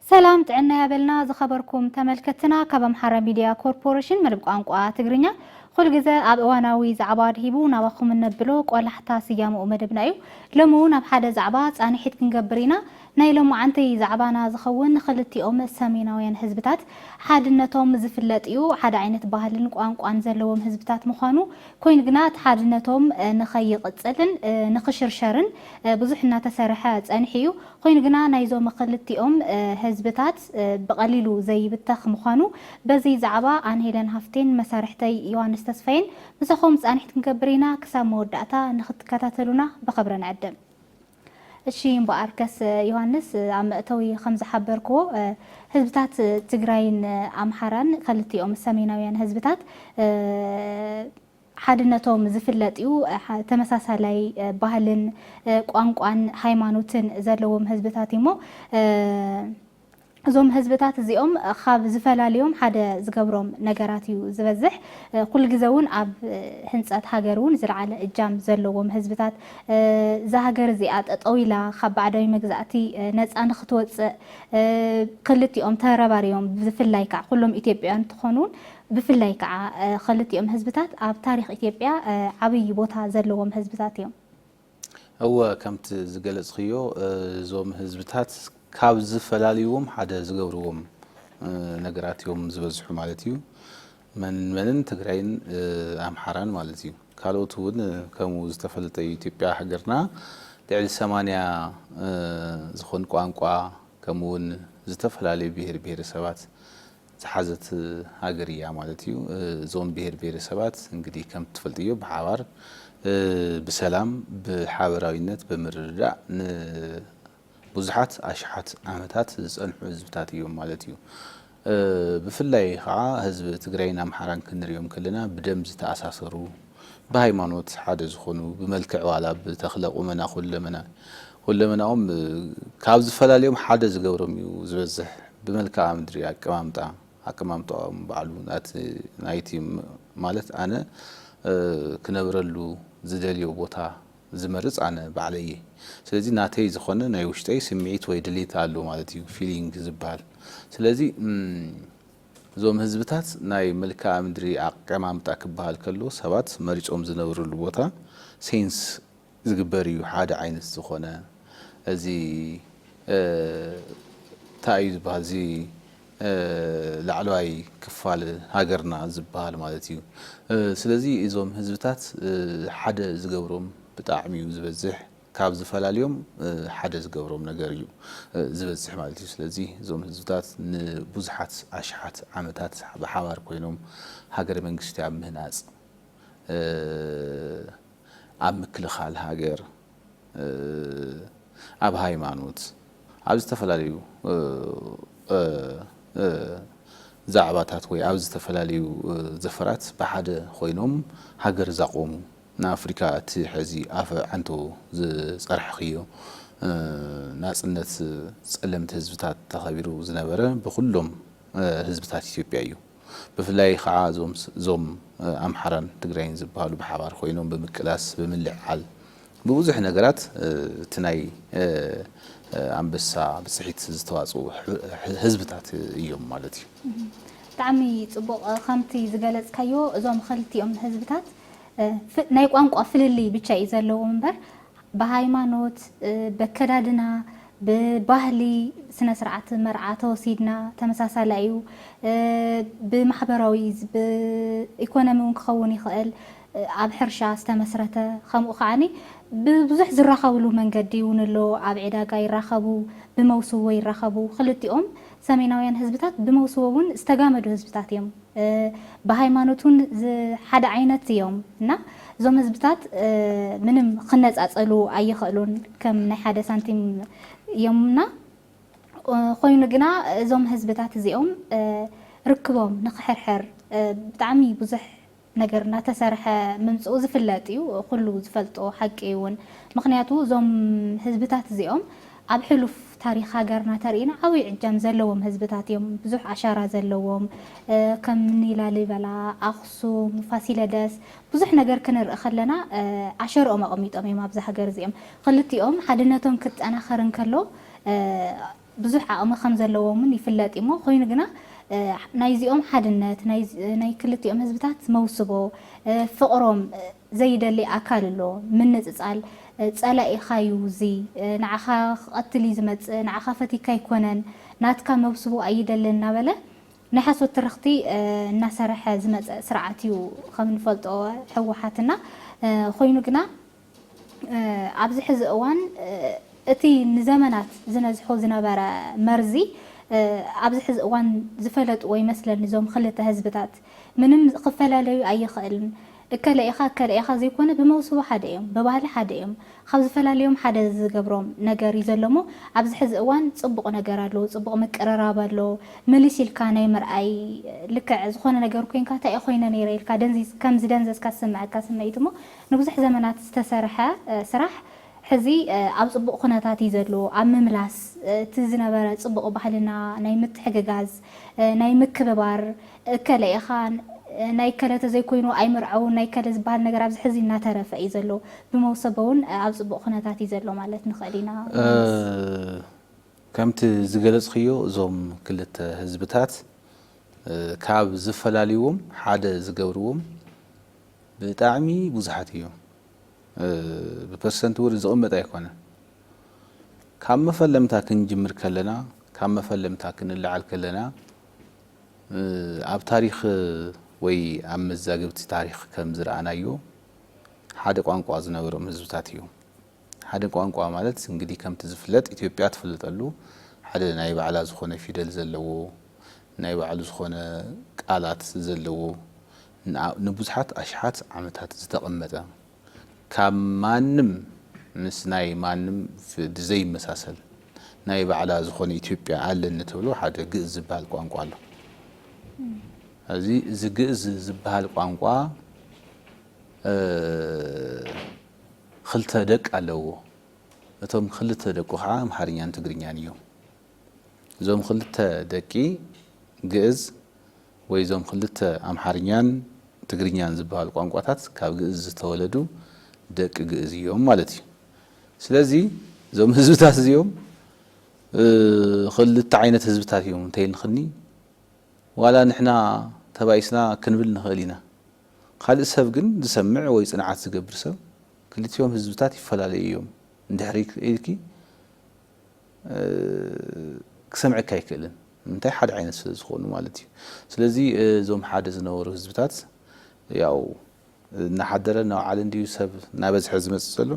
ሰላም ጥዕና ያበልና ዝኸበርኩም ተመልከትና ካብ ኣምሓራ ሚድያ ኮርፖሬሽን መደብ ቋንቋ ትግርኛ ኩል ግዘ ኣብ እዋናዊ ዛዕባ ድሂቡ ናባኹም እነብሎ ቆላሕታ ስያምኡ መደብና እዩ ሎሚ እውን ኣብ ሓደ ዛዕባ ፃንሒት ክንገብር ኢና ናይ ሎማዓንቲ ዛዕባና ዝኸውን ኽልቲኦም ሰሜናውያን ህዝብታት ሓድነቶም ዝፍለጥ እዩ። ሓደ ዓይነት ባህልን ቋንቋን ዘለዎም ህዝብታት ምዃኑ ኮይኑ ግና እቲ ሓድነቶም ንኸይቕፅልን ንኽሽርሸርን ብዙሕ እናተሰርሐ ፀኒሑ እዩ። ኾይኑ ግና ናይዞም ኽልቲኦም ህዝብታት ብቐሊሉ ዘይብተኽ ምዃኑ በዚ ዛዕባ ኣነ ሄለን ሃፍቴን መሳርሕተይ ዮሃንስ ተስፋዬን ምሳኹም ፃንሒት ክንገብር ኢና። ክሳብ መወዳእታ ንኽትከታተሉና ብኽብሪ ንዕድም። እሺ እምበኣርከስ ዮሃንስ ኣብ መእተዊ ከም ዝሓበርክዎ ህዝብታት ትግራይን ኣምሓራን ከልቲኦም ሰሜናውያን ህዝብታት ሓድነቶም ዝፍለጥ እዩ። ተመሳሳላይ ባህልን ቋንቋን ሃይማኖትን ዘለዎም ህዝብታት እዩሞ እዞም ህዝብታት እዚኦም ኻብ ዝፈላልዮም ሓደ ዝገብሮም ነገራት እዩ ዝበዝሕ። ኩሉ ግዘ እውን ኣብ ህንፀት ሃገር እውን ዝለዓለ እጃም ዘለዎም ህዝብታት እዛ ሃገር እዚኣ ጠጠው ኢላ ኻብ ባዕዳዊ መግዛእቲ ነፃ ንኽትወፅእ ኽልቲኦም ተረባሪቦም ብፍላይ ከዓ ኩሎም ኢትዮጵያውያን እንትኾኑ እውን ብፍላይ ከዓ ኽልቲኦም ህዝብታት ኣብ ታሪኽ ኢትዮጵያ ዓብይ ቦታ ዘለዎም ህዝብታት እዮም። እወ ከምቲ ዝገለፅክዮ እዞም ህዝብታት ካብ ዝፈላልይዎም ሓደ ዝገብርዎም ነገራት እዮም ዝበዝሑ ማለት እዩ። መን መንን ትግራይን ኣምሓራን ማለት እዩ። ካልኦት እውን ከምኡ ዝተፈለጠ እዩ። ኢትዮጵያ ሃገርና ልዕሊ ሰማንያ ዝኾን ቋንቋ ከምኡ እውን ዝተፈላለዩ ብሄር ብሄረሰባት ዝሓዘት ሃገር ኢያ ማለት ኢዩ። እዞም ብሄር ብሄረሰባት እንግዲህ ከምቲ ትፈልጥዮ ብሓባር ብሰላም ብሓበራዊነት ብምርድዳእ ንቡዙሓት ኣሽሓት ዓመታት ዝጸንሑ ህዝብታት ኢዮም ማለት ኢዩ። ብፍላይ ከኣ ህዝቢ ትግራይን ኣምሓራን ክንሪኦም ከለና ብደም ዝተኣሳሰሩ ብሃይማኖት ሓደ ዝኾኑ ብመልክዕ ዋላ ብተኽለ ቁመና ኩለመና ኩለመናኦም ካብ ዝፈላልዮም ሓደ ዝገብሮም እዩ ዝበዝሕ ብመልክኣ ምድሪ ኣቀማምጣ ኣቀማምጣኦም ባዕሉ ናቲ ናይቲ ማለት ኣነ ክነብረሉ ዝደልዮ ቦታ ዝመርጽ ኣነ ባዕለይ እየ ስለዚ ናተይ ዝኾነ ናይ ውሽጠይ ስምዒት ወይ ድሌት ኣሎ ማለት እዩ ፊሊንግ ዝብሃል ስለዚ እዞም ህዝብታት ናይ መልክኣ ምድሪ ኣቀማምጣ ክበሃል ከሎ ሰባት መሪጾም ዝነብርሉ ቦታ sense ዝግበር እዩ ሓደ ዓይነት ዝኾነ እዚ ታይ እዩ ዝበሃል እዚ ላዕለዋይ ክፋል ሃገርና ዝበሃል ማለት እዩ ስለዚ እዞም ህዝብታት ሓደ ዝገብሮም ብጣዕሚ እዩ ዝበዝሕ ካብ ዝፈላልዮም ሓደ ዝገብሮም ነገር እዩ ዝበጽሕ ማለት እዩ። ስለዚ እዞም ህዝብታት ንብዙሓት ኣሽሓት ዓመታት ብሓባር ኮይኖም ሃገረ መንግስቲ ኣብ ምህናጽ፣ ኣብ ምክልኻል ሃገር፣ ኣብ ሃይማኖት፣ ኣብ ዝተፈላለዩ ዛዕባታት ወይ ኣብ ዝተፈላለዩ ዘፈራት ብሓደ ኮይኖም ሃገር ዛቖሙ ንኣፍሪካ እቲ ሐዚ ኣፈ ዓንቶ ዝፀርሕኽዮ ናፅነት ፀለምቲ ህዝብታት ተኸቢሩ ዝነበረ ብኹሎም ህዝብታት ኢትዮጵያ እዩ። ብፍላይ ኻዓ እዞም ኣምሓራን ትግራይን ዝብሃሉ ብሓባር ኾይኖም ብምቅላስ ብምልዕዓል ብብዙሕ ነገራት እቲ ናይ ኣንበሳ ብፅሒት ዝተዋፅኡ ህዝብታት እዮም ማለት እዩ። ብጣዕሚ ፅቡቕ ከምቲ ዝገለፅካዮ እዞም ኸልቲኦም ህዝብታት ናይ ቋንቋ ፍልልይ ብቻ እዩ ዘለዎም እምበር ብሃይማኖት በከዳድና ብባህሊ ስነስርዓት መርዓ ተወሲድና ተመሳሳሊ ኣዩ ብማሕበራዊ ብኢኮኖሚ ውን ክኸውን ይኽእል ኣብ ሕርሻ ዝተመስረተ ከምኡ ከዓኒ ብብዙሕ ዝራኸብሉ መንገዲ ውን ኣሎ ኣብ ዒዳጋ ይራኸቡ ብመውስቦ ይራኸቡ ክልቲኦም ሰሜናውያን ህዝብታት ብመውስቦ ውን ዝተጋመዱ ህዝብታት እዮም። ብሃይማኖት ውን ሓደ ዓይነት እዮም እና እዞም ህዝብታት ምንም ክነፃፀሉ ኣይኸእሉን ከም ናይ ሓደ ሳንቲም እዮም እና ኾይኑ ግና እዞም ህዝብታት እዚኦም ርክቦም ንክሕርሕር ብጣዕሚ ብዙሕ ነገር እናተሰርሐ ምምፅኡ ዝፍለጥ እዩ፣ ኩሉ ዝፈልጦ ሓቂ እዩ እውን። ምኽንያቱ እዞም ህዝብታት እዚኦም ኣብ ሕሉፍ ታሪኽ ሃገርና ተሪኢና ዓብይ ዕጃም ዘለዎም ህዝብታት እዮም። ብዙሕ ኣሻራ ዘለዎም ከም እኒ ላሊበላ፣ ኣኽሱም፣ ፋሲለደስ ብዙሕ ነገር ክንርኢ ከለና ኣሸርኦም ኣቐሚጦም እዮም ኣብዛ ሃገር እዚኦም። ኽልቲኦም ሓድነቶም ክጠናኸር እንከሎ ብዙሕ ዓቕሚ ከም ዘለዎም እውን ይፍለጥ እዩ እሞ ኾይኑ ግና ናይዚኦም ሓድነት ናይ ክልቲኦም ህዝብታት መውስቦ ፍቕሮም ዘይደሊ ኣካል ኣሎ ምንጽጻል ጸላኢኻ ዩ እዚ ንዓኻ ክቀትል ዩ ዝመጽእ ንዓኻ ፈቲካ ኣይኮነን ናትካ መብስቡ ኣይደልን እናበለ ናይ ሓሶት ትርኽቲ እናሰረሐ ዝመጸ ስርዓት ዩ ከም ንፈልጦ ህወሓት እና ኮይኑ ግና ኣብዚ ሕዚ እዋን እቲ ንዘመናት ዝነዝሖ ዝነበረ መርዚ ኣብዚ ሕዚ እዋን ዝፈለጥዎ ይመስለኒ እዞም ኽልተ ህዝብታት። ምንም ክፈላለዩ ኣይኽእልን እከለ ኢኻ እከለ ኢኻ ዘይኮነ ብመውስቦ ሓደ እዮም ብባህሊ ሓደ እዮም ኻብ ዝፈላልዮም ሓደ ዝገብሮም ነገር እዩ ዘሎ እሞ ኣብዚ ሕዚ እዋን ፅቡቕ ነገር ኣሎ ፅቡቕ ምቅርራብ ኣሎ ምልስ ኢልካ ናይ ምርኣይ ልክዕ ዝኾነ ነገር ኮይንካ ታይ ኾይነ ነይረ ኢልካ ደንዚዝ ከም ዝደንዘዝካ ዝስመዐካ ስምዒት እሞ ንብዙሕ ዘመናት ዝተሰርሐ ስራሕ ሕዚ ኣብ ፅቡቕ ኹነታት እዩ ዘሎ ኣብ ምምላስ እቲ ዝነበረ ፅቡቕ ባህልና ናይ ምትሕግጋዝ ናይ ምክብባር እከለ ኢኻ ናይ እከለ ተዘይኮይኑ ኣይምርዐውን ናይ እከለ ዝበሃል ነገር ኣብዚ ሕዚ እናተረፈ እዩ ዘሎ። ብመውሰቦ እውን ኣብ ፅቡቕ ኩነታት እዩ ዘሎ ማለት ንኽእል ኢና ወይንስ? ከምቲ ዝገለፅክዮ እዞም ክልተ ህዝብታት ካብ ዝፈላልይዎም ሓደ ዝገብርዎም ብጣዕሚ ብዙሓት እዮም። ብፐርሰንት እውን ዝቕመጥ ኣይኮነን። ካብ መፈለምታ ክንጅምር ከለና ካብ መፈለምታ ክንለዓል ከለና ኣብ ታሪኽ ወይ ኣብ መዛግብቲ ታሪኽ ከም ዝረኣናዮ ሓደ ቋንቋ ዝነበሮም ህዝብታት እዮም። ሓደ ቋንቋ ማለት እንግዲህ ከምቲ ዝፍለጥ ኢትዮጵያ ትፍለጠሉ ሓደ ናይ ባዕላ ዝኾነ ፊደል ዘለዎ ናይ ባዕሉ ዝኾነ ቃላት ዘለዎ ንብዙሓት ኣሽሓት ዓመታት ዝተቐመጠ ካብ ማንም ምስ ናይ ማንም ብዘይመሳሰል ናይ ባዕላ ዝኾነ ኢትዮጵያ ኣለኒ ትብሎ ሓደ ግእዝ ዝበሃል ቋንቋ ኣሎ። እዚ እዚ ግእዝ ዝበሃል ቋንቋ ኽልተ ደቅ ኣለዎ። እቶም ኽልተ ደቁ ከዓ ኣምሓርኛን ትግርኛን እዮም። እዞም ኽልተ ደቂ ግእዝ ወይ እዞም ክልተ ኣምሓርኛን ትግርኛን ዝበሃሉ ቋንቋታት ካብ ግእዝ ዝተወለዱ ደቂ ግእዝ እዮም ማለት እዩ። ስለዚ እዞም ህዝብታት እዚኦም ክልተ ዓይነት ህዝብታት እዮም እንተይልክኒ ዋላ ንሕና ተባኢስና ክንብል ንኽእል ኢና። ካልእ ሰብ ግን ዝሰምዕ ወይ ፅንዓት ዝገብር ሰብ ክልቲኦም ህዝብታት ይፈላለዩ እዮም እንድሕር ኢልኪ ክሰምዐካ ኣይክእልን ንምንታይ ሓደ ዓይነት ስለ ዝኾኑ ማለት እዩ ስለዚ እዞም ሓደ ዝነበሩ ህዝብታት ያው እናሓደረ እናውዓለ እንዲዩ ሰብ እናበዝሐ ዝመፅእ ዘሎ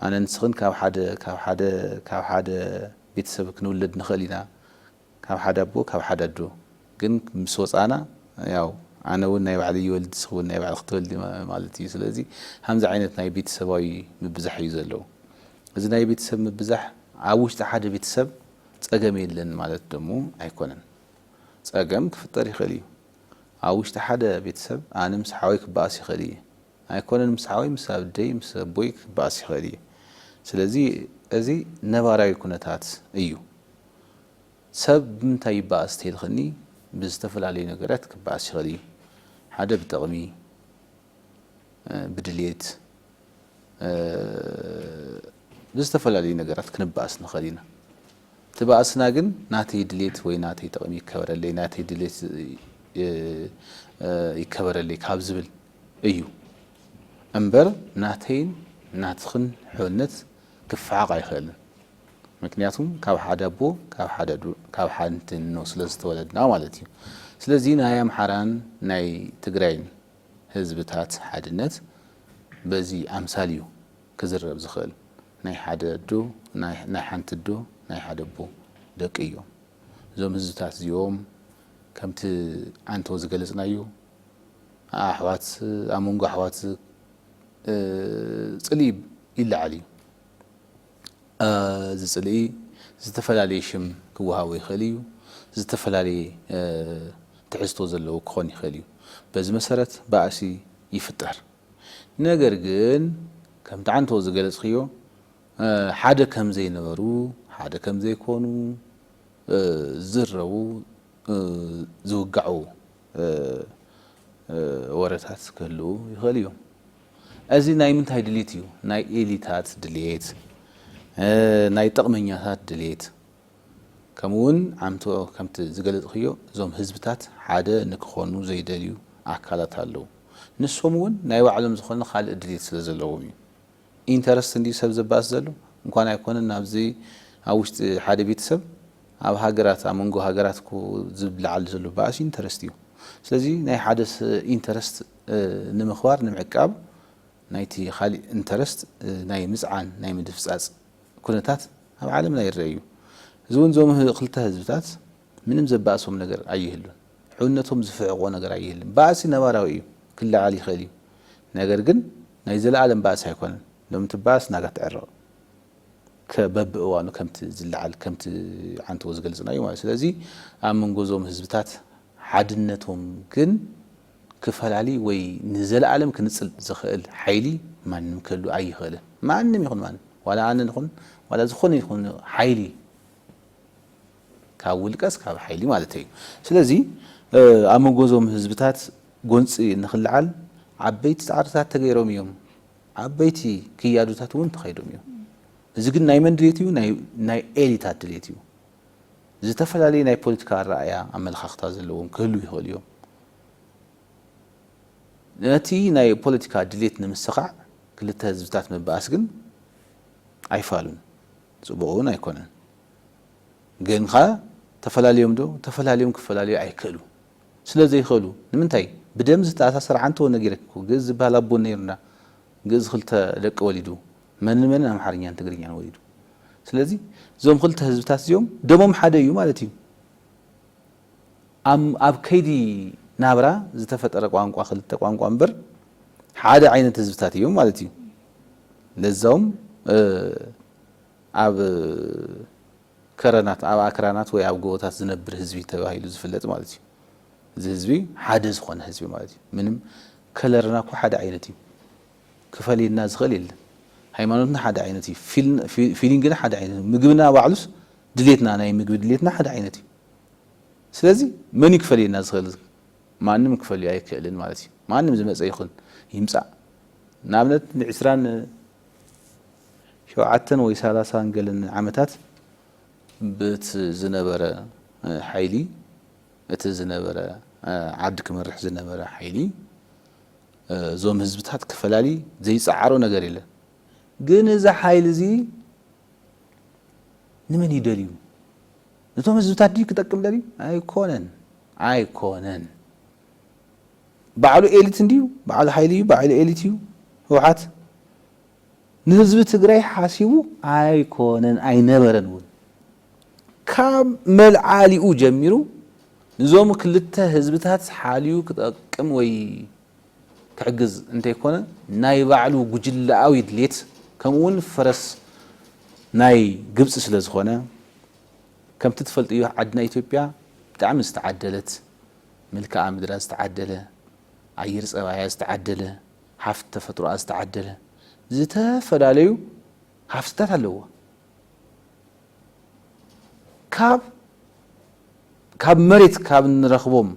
ኣነ ንስኽን ካብ ሓደ ካብ ሓደ ካብ ሓደ ቤተሰብ ክንውለድ ንኽእል ኢና ካብ ሓደ ኣቦ ካብ ሓደ ኣዶ ግን ምስ ወጻና ያው ኣነ ውን ናይ ባዕለይ ይወልድ ንስኺ ውን ናይ ባዕልኺ ትወልዲ ማለት እዩ ስለዚ ሃምዚ ዓይነት ናይ ቤተሰባዊ ምብዛሕ እዩ ዘለው እዚ ናይ ቤተሰብ ምብዛሕ ኣብ ውሽጢ ሓደ ቤተሰብ ጸገም የለን ማለት ደሞ ኣይኮነን ጸገም ክፍጠር ይኽእል እዩ ኣብ ውሽጢ ሓደ ቤተሰብ ኣነ ምስ ሓወይ ክበኣስ ይኽእል እየ ኣይኮነን ምስ ሓወይ ምስ ኣብደይ ምስ ኣቦይ ክበኣስ ይኽእል እየ ስለዚ እዚ ነባራዊ ኩነታት እዩ ሰብ ብምንታይ ይበኣስ ተይልክኒ ብዝተፈላለዩ ነገራት ክበኣስ ይኽእል እዩ። ሓደ ብጥቕሚ፣ ብድሌት፣ ብዝተፈላለዩ ነገራት ክንበኣስ ንኽእል ኢና። እቲ ባእስና ግን ናተይ ድሌት ወይ ናተይ ጥቕሚ ይከበረለይ፣ ናተይ ድሌት ይከበረለይ ካብ ዝብል እዩ እምበር ናተይን ናትኽን ሕውነት ክፈሓቕ ኣይኽእልን። ምክንያቱ ካብ ሓደ ኣቦ ካብ ሓንቲ እኖ ስለ ዝተወለድና ማለት እዩ። ስለዚ ናይ ኣምሓራን ናይ ትግራይን ህዝብታት ሓድነት በዚ ኣምሳል እዩ ክዝረብ ዝኽእል። ናይ ሓደ ኣዶ ናይ ሓንቲ ኣዶ ናይ ሓደ ኣቦ ደቂ እዮም እዞም ህዝብታት እዚኦም። ከምቲ ኣንቶ ዝገለጽናዮ ኣሕዋት ኣብ መንጎ ኣሕዋት ጽልኢ ይለዓል እዩ። እዚ ጽልኢ ዝተፈላለየ ሽም ክወሃቦ ይኽእል እዩ፣ ዝተፈላለየ ትሕዝቶ ዘለዎ ክኾን ይኽእል እዩ። በዚ መሰረት ባእሲ ይፍጠር። ነገር ግን ከምቲ ዓንተቦ ዝገለጽክዮ ሓደ ከም ዘይነበሩ፣ ሓደ ከም ዘይኮኑ፣ ዝዝረቡ ዝውጋዑ ወረታት ክህልዉ ይኽእሉ እዮም። እዚ ናይ ምንታይ ድሊት እዩ ናይ ኤሊታት ድሌት ናይ ጥቕመኛታት ድሌት ከምኡ ውን ዓምቶ ከምቲ ዝገለጽኽዮ እዞም ህዝብታት ሓደ ንክኾኑ ዘይደልዩ ኣካላት ኣለዉ ንሶም ውን ናይ ባዕሎም ዝኾነ ካልእ ድሌት ስለ ዘለዎም እዩ ኢንተረስት እንድዩ ሰብ ዘባእስ ዘሎ እንኳን ኣይኮነን ኣብዚ ኣብ ውሽጢ ሓደ ቤተሰብ ኣብ ሃገራት ኣብ መንጎ ሃገራት እኮ ዝለዓል ዘሎ ባእሲ ኢንተረስት እዩ ስለዚ ናይ ሓደ ኢንተረስት ንምኽባር ንምዕቃብ ናይቲ ኻሊእ ኢንተረስት ናይ ምጽዓን ናይ ምድፍጻጽ ኩነታት ኣብ ዓለምና ይረኣ እዩ። እዚ እውን እዞም ኽልተ ህዝብታት ምንም ዘባእሶም ነገር ኣይህሉን። ሕውነቶም ዝፍሕቖ ነገር ኣይህልን። ባእሲ ነባራዊ እዩ ክለዓል ይኽእል እዩ ነገር ግን ናይ ዘለኣለም ባእሲ ኣይኮነን። ሎሚ ትበኣስ ናጋ ትዕረቕ ከ በቢ እዋኑ ከምቲ ዝለዓል ከምቲ ዓንተቦ ዝገልጽናዩ ማለት እዩ። ስለዚ ኣብ መንጎ እዞም ህዝብታት ሓድነቶም ግን ክፈላሊ ወይ ንዘለኣለም ክንጽል ዝኽእል ሓይሊ ማንም ክህሉ ኣይኽእልን። ማንም ይኹን ማንም ዋላ ኣነ ንኹን ዋላ ዝኾነ ይኹን ሓይሊ ካብ ውልቀስ ካብ ሓይሊ ማለተይ እዩ። ስለዚ ኣብ መንጎ እዞም ህዝብታት ጎንጺ ንኽለዓል ዓበይቲ ጻዕርታት ተገይሮም እዮም። ዓበይቲ ክያዶታት እውን ተኸይዶም እዮም። እዚ ግን ናይ መን ድሌት እዩ? ናይ ኤሊታት ድሌት እዩ። ዝተፈላለዩ ናይ ፖለቲካ ኣረኣእያ ኣመለኻኽታ ዘለዎም ክህልው ይኽእሉ እዮም። ነቲ ናይ ፖለቲካ ድሌት ንምስኻዕ ክልተ ህዝብታት ምብኣስ ግን ኣይፋሉን ጽቡቕ እውን ኣይኮነን። ግን ከ ተፈላልዮም ዶ? ተፈላልዮም ክፈላለዩ ኣይክእሉ ስለ ዘይኽእሉ ንምንታይ ብደም ዝተኣሳሰረ ዓንተወ ነጊረኪ እኮ ግእዝ ዝበሃል ኣቦ ነይሩና ግእዝ ክልተ ደቂ ወሊዱ መን ንመንን ኣምሓርኛን ትግርኛን ወሊዱ ስለዚ እዞም ክልተ ህዝብታት እዚኦም ደሞም ሓደ እዩ ማለት እዩ ኣብ ኣብ ከይዲ ናብራ ዝተፈጠረ ቋንቋ ክልተ ቋንቋ እምበር ሓደ ዓይነት ህዝብታት እዮም ማለት እዩ ለዛውም ኣብ ከረናት ኣብ ኣክራናት ወይ ኣብ ጎቦታት ዝነብር ህዝቢ ተባሂሉ ዝፍለጥ ማለት እዩ እዚ ህዝቢ ሓደ ዝኾነ ህዝቢ ማለት እዩ ምንም ከለርና እኮ ሓደ ዓይነት እዩ ክፈልየና ዝኽእል የለን ሃይማኖትና ሓደ ዓይነት እዩ ፊሊንግና ሓደ ዓይነት እዩ ምግብና ባዕሉስ ድሌትና ናይ ምግቢ ድሌትና ሓደ ዓይነት እዩ ስለዚ መን እዩ ክፈልየና ዝኽእል ማንም ክፈልዮ ኣይክእልን ማለት እዩ ማንም ዝመፀ ይኹን ይምፃእ ንኣብነት ንዕስራን ሸውዓተን ወይ ሰላሳን ገለን ዓመታት ብት ዝነበረ ሓይሊ እቲ ዝነበረ ዓዲ ክመርሕ ዝነበረ ሓይሊ እዞም ህዝብታት ክፈላሊ ዘይጸዓሮ ነገር የለን ግን እዚ ሓይሊ እዚ ንመን እዩ ደልዩ ነቶም ህዝብታት ድዩ ክጠቅም ደልዩ ኣይኮነን ኣይኮነን ባዕሉ ኤሊት እንድዩ ባዕሉ ሓይሊ እዩ ባዕሉ ኤሊት እዩ ህውሓት ንህዝቢ ትግራይ ሓሲቡ ኣይኮነን ኣይነበረን እውን ካብ መልዓሊኡ ጀሚሩ ንዞም ክልተ ህዝብታት ሓልዩ ክጠቅም ወይ ክሕግዝ እንተይኮነ ናይ ባዕሉ ጉጅለኣዊ ድሌት ከምኡ እውን ፈረስ ናይ ግብፂ ስለዝኾነ ከምቲ ትፈልጥዮ ዓድና ኢትዮጵያ ብጣዕሚ ዝተዓደለት መልክኣ ምድራ ዝተዓደለ ኣየር ፀባያ ዝተዓደለ ሃፍቲ ተፈጥሮኣ ዝተዓደለ ዝተፈላለዩ ሃፍትታት ኣለዋ። ካብ ካብ መሬት ካብ እንረኽቦም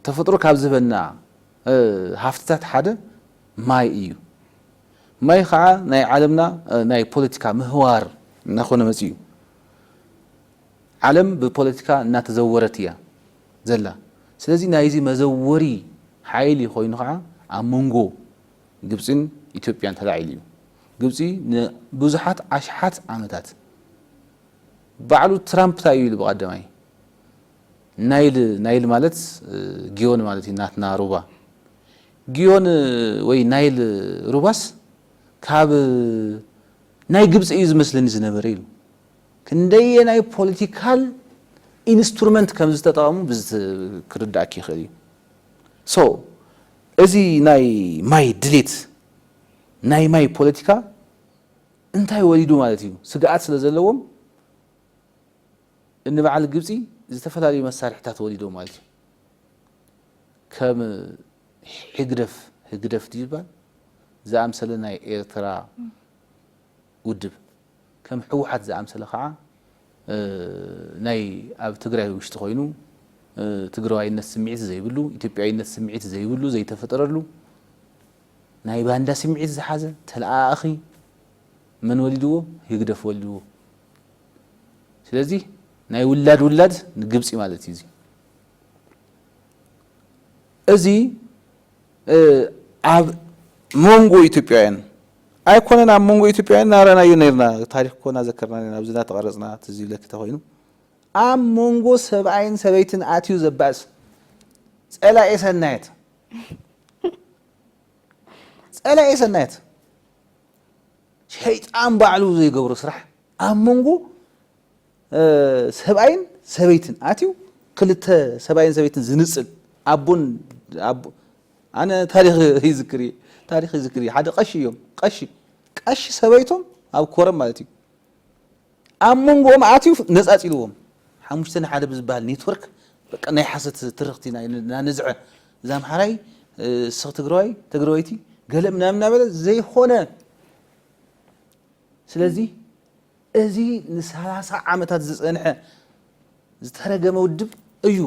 ተፈጥሮ ካብ ዝህበና ሃፍትታት ሓደ ማይ እዩ። ማይ ኸዓ ናይ ዓለምና ናይ ፖለቲካ ምህዋር እናኾነ መፂኡ። ዓለም ብፖለቲካ እናተዘወረት እያ ዘላ። ስለዚ ናይዚ መዘወሪ ሓይሊ ኾይኑ ኸዓ ኣብ መንጎ ግብጺን ኢትዮጵያን ተላዒሉ እዩ። ግብጺ ንብዙሓት ኣሽሓት ዓመታት ባዕሉ ትራምፕ ታይ እዩ ኢሉ ብቀዳማይ ናይል ናይል ማለት ጊዮን ማለት እዩ ናትና ሩባ ጊዮን ወይ ናይል ሩባስ ካብ ናይ ግብጺ እዩ ዝመስለኒ ዝነበረ ኢሉ ክንደየናይ ፖለቲካል ኢንስትሩመንት ከም ዝተጠቐሙ ክርዳእኪ ይኽእል እዩ። ሶ እዚ ናይ ማይ ድሌት ናይ ማይ ፖለቲካ እንታይ ወሊዱ ማለት እዩ ስግኣት ስለ ዘለዎም እኒ በዓል ግብፂ ዝተፈላለዩ መሳርሕታት ወሊዶም ማለት እዩ ከም ሕግደፍ ህግደፍ ድዩ ዝባል ዝኣምሰለ ናይ ኤርትራ ውድብ ከም ህወሓት ዝኣምሰለ ከዓ ናይ ኣብ ትግራይ ውሽጢ ኮይኑ ትግራዋይነት ስምዒት ዘይብሉ፣ ኢትዮጵያዊነት ስምዒት ዘይብሉ ዘይተፈጠረሉ ናይ ባንዳ ስምዒት ዝሓዘ ተለኣኣኺ መን ወሊድዎ? ህግደፍ ወሊድዎ። ስለዚ ናይ ውላድ ውላድ ንግብፂ ማለት እዩ እዚ። እዚ ኣብ ሞንጎ ኢትዮጵያውያን ኣይኮነን ኣብ ሞንጎ ኢትዮጵያውያን ናራናዮ ነርና ታሪክ እኮ ናዘከርና ነርና ኣብዚ ናተቐረጽና ትዝ ይብለኪ ተኾይኑ ኣብ ሞንጎ ሰብኣይን ሰበይትን ኣትዩ ዘባእስ ጸላኤ ሰናየት ጸላኤ ሰናየት ሸይጣን ባዕሉ ዘይገብሮ ስራሕ ኣብ ሞንጎ ሰብኣይን ሰበይትን ኣትዩ ክልተ ሰብኣይን ሰበይትን ዝንጽል ኣቦን ኣቦ ኣነ ታሪኽ ይዝክር እየ ታሪኽ ይዝክር እየ ሓደ ቀሺ እዮም ቀሺ ቀሺ ሰበይቶም ኣብ ኮረም ማለት እዩ ኣብ መንጎኦም ኣትዩ ነጻጺልዎም ሓሙሽተ ንሓደ ብዝበሃል ኔትወርክ በቃ ናይ ሓሰት ትርኽቲ ናነዝዐ እዛ ኣምሓራይ ስኽ ትግራዋይ ትግራወይቲ ገለ ምናምን እናበለ ዘይኾነ ስለዚ እዚ ንሳላሳ ዓመታት ዝጸንሐ ዝተረገመ ውድብ እዩ።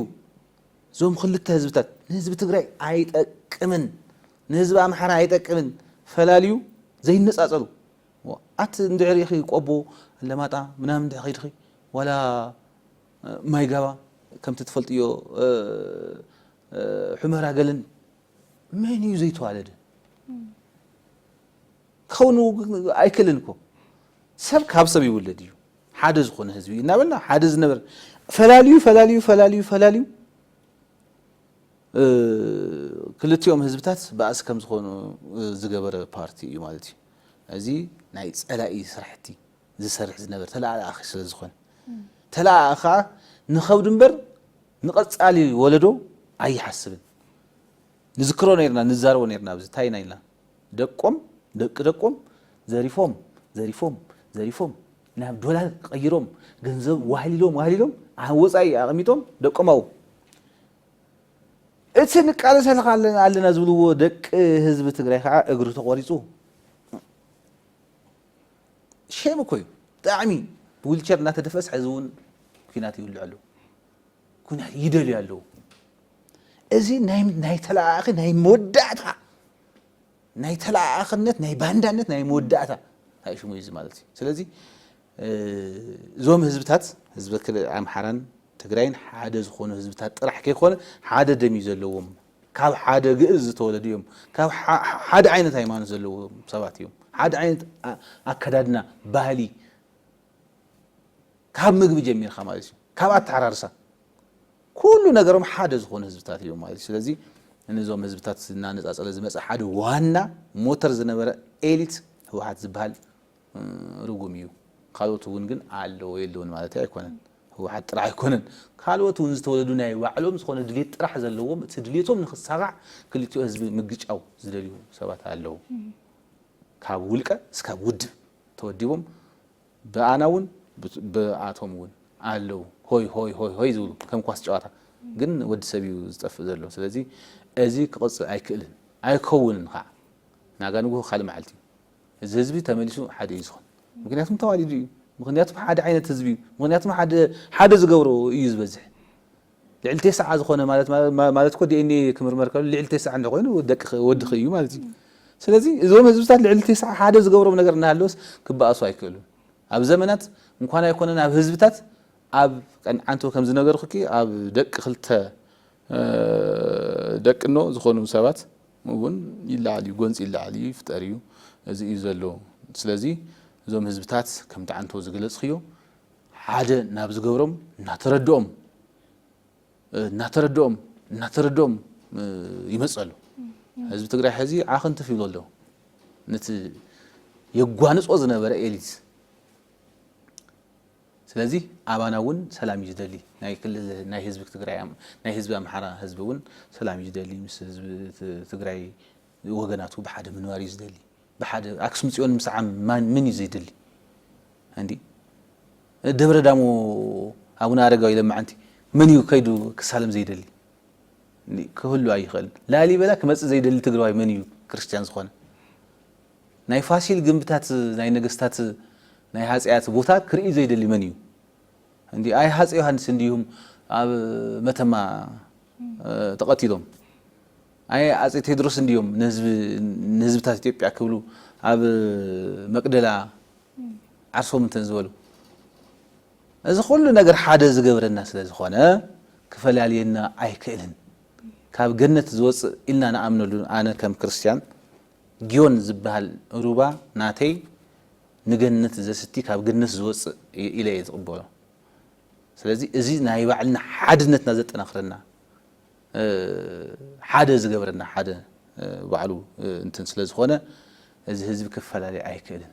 እዞም ክልተ ህዝብታት ንህዝቢ ትግራይ ኣይጠቅምን ንህዝቢ ኣምሓራ ኣይጠቅምን ፈላልዩ ዘይነጻጸሉ ኣቲ እንድሕር ኢኺ ቆቦ ኣለማጣ ምናምን እንድሕር ኺድኺ ዋላ ማይጋባ ከምቲ ትፈልጥዮ ሑመራ ገለን መን እዩ ዘይተዋለደ ክኸውን ኣይክእልን እኮ ሰብ ካብ ሰብ ይውለድ እዩ ሓደ ዝኾነ ህዝቢ እዩ እናበልና ሓደ ዝነበር ፈላልዩ ፈላልዩ ፈላልዩ ፈላልዩ ክልቲኦም ህዝብታት ባእሲ ከም ዝኾኑ ዝገበረ ፓርቲ እዩ ማለት እዩ እዚ ናይ ጸላኢ ስራሕቲ ዝሰርሕ ዝነበር ተለኣኣኺ ስለ ዝኾነ ተለኣኣ ከዓ ንኸብዱ እምበር ንቐጻሊ ወለዶ ኣይሓስብን ንዝክሮ ነርና ንዛረቦ ነርና ኣብዚ እንታይ ኢና ኢልና ደቆም ደቂ ደቆም ዘሪፎም ዘሪፎም ዘሪፎም ናብ ዶላር ቀይሮም ገንዘብ ዋህሊሎም ዋህሊሎም ኣብ ወፃኢ ኣቐሚጦም ደቆም ኣብኡ እቲ ንቃለሰልካ ኣለና ኣለና ዝብልዎ ደቂ ህዝቢ ትግራይ ከዓ እግሪ ተቖሪፁ ሼም እኮ እዩ ብጣዕሚ ብዊልቸር እናተደፈስ ሕዚ እውን ኩናት ይውልዕ ኣሎ ኩናት ይደልዩ ኣለዉ። እዚ ናይ ተለኣኣኺ ናይ መወዳእታ ናይ ተለኣኣኽነት ናይ ባንዳነት ናይ መወዳእታ ሽሙ እዩ ማለት እዩ። ስለዚ እዞም ህዝብታት ህዝቢ ኣምሓራን ትግራይን ሓደ ዝኾኑ ህዝብታት ጥራሕ ከይኮነ ሓደ ደም እዩ ዘለዎም። ካብ ሓደ ግእዝ ዝተወለዱ እዮም። ካብ ሓደ ዓይነት ሃይማኖት ዘለዎም ሰባት እዮም። ሓደ ዓይነት ኣከዳድና ባህሊ ካብ ምግቢ ጀሚርካ ማለት እዩ ካብ ኣተዓራርሳ ኩሉ ነገሮም ሓደ ዝኾኑ ህዝብታት እዮም ማለት እዩ ስለዚ ንዞም ህዝብታት እናነፃፀለ ዝመፀ ሓደ ዋና ሞተር ዝነበረ ኤሊት ህወሓት ዝበሃል ርጉም እዩ ካልኦት እውን ግን ኣለዎ የለውን ማለት ኣይኮነን ህወሓት ጥራሕ ኣይኮነን ካልኦት እውን ዝተወለዱ ናይ ባዕሎም ዝኾነ ድሌት ጥራሕ ዘለዎም እቲ ድሌቶም ንክሳጋዕ ክልቲኦ ህዝቢ ምግጫው ዝደልዩ ሰባት ኣለዉ ካብ ውልቀ እስካብ ውድብ ተወዲቦም ብኣና እውን ብኣቶም እውን ኣለው ሆይ ሆይ ሆይ ሆይ ዝብሉ ከም ኳስ ጨዋታ ግን ወዲ ሰብ እዩ ዝጠፍእ ዘሎ ስለዚ እዚ ክቕፅል ኣይክእልን ኣይከውንን ከዓ ናጋ ንጉሆ ካልእ መዓልቲ እዩ እዚ ህዝቢ ተመሊሱ ሓደ እዩ ዝኾን ምክንያቱም ተዋሊዱ እዩ ምክንያቱም ሓደ ዓይነት ህዝቢ እዩ ምክንያቱም ሓደ ዝገብሮ እዩ ዝበዝሕ ልዕሊ ቴስዓ ዝኾነ ማለት ማለት እኮ ዲኤንኤ ክምርመር ከሎ ልዕሊ ቴስዓ እንደ ኮይኑ ደቅኺ ወድኺ እዩ ማለት እዩ። ስለዚ እዞም ህዝብታት ልዕሊ ቴስዓ ሓደ ዝገብሮም ነገር እናሃለወስ ክበኣሱ ኣይክእሉን። ኣብ ዘመናት እንኳን ኣይኮነን ኣብ ህዝብታት ኣብ ቀን ዓንተው ከም ዝነገርኩኪ ኣብ ደቂ ክልተ ደቅኖ ዝኾኑ ሰባት እውን ይለዓል እዩ፣ ጎንፂ ይለዓል እዩ፣ ይፍጠር እዩ፣ እዚ እዩ ዘሎ። ስለዚ እዞም ህዝብታት ከምቲ ዓንተው ዝገለፅክዮ ሓደ ናብ ዝገብሮም እናተረድኦም እናተረድኦም እናተረድኦም ይመጽእ ኣሎ። ህዝቢ ትግራይ ሕዚ ዓኽ እንትፍ ይብሎ ኣሎ። ነቲ የጓንጾ ዝነበረ ኤሊት ስለዚ ኣባና እውን ሰላም እዩ ዝደሊ ናይ ክልል ናይ ህዝቢ ትግራይ ናይ ህዝቢ ኣምሓራ ህዝቢ እውን ሰላም እዩ ዝደሊ ምስ ህዝቢ ትግራይ ወገናቱ ብሓደ ምንባር እዩ ዝደሊ ብሓደ ኣክሱም ፅዮን ምስዓም ማን መን እዩ ዘይደሊ እንዲ ደብረ ዳሞ ኣቡነ ኣረጋዊ ለማዓንቲ መን እዩ ከይዱ ክሳለም ዘይደሊ ክህሉ ኣይኽእል ላሊበላ ክመፅእ ዘይደሊ ትግራዋይ መን እዩ ክርስትያን ዝኾነ ናይ ፋሲል ግንብታት ናይ ነገስታት ናይ ሃፀያት ቦታ ክርኢ ዘይደሊ መን እዩ እንዲ ኣይ ሃፀ ዮሃንስ እንዲሁም ኣብ መተማ ተቐቲሎም ኣየ ኣጼ ቴድሮስ እንድዮም ንህዝቢ ንህዝብታት ኢትዮጵያ ክብሉ ኣብ መቅደላ ዓርሶም እንተ ዝበሉ። እዚ ኩሉ ነገር ሓደ ዝገብረና ስለ ዝኾነ ክፈላልየና ኣይክእልን። ካብ ገነት ዝወጽእ ኢልና ንኣምነሉ ኣነ ከም ክርስትያን ግዮን ዝበሃል ሩባ ናተይ ንገነት ዘስቲ ካብ ገነት ዝወጽእ ኢለ እየ ዝቅበሎ። ስለዚ እዚ ናይ ባዕልና ሓድነትና ዘጠናኽረና ሓደ ዝገብረና ሓደ ባዕሉ እንትን ስለ ዝኾነ እዚ ህዝቢ ክፈላለይ ኣይክእልን።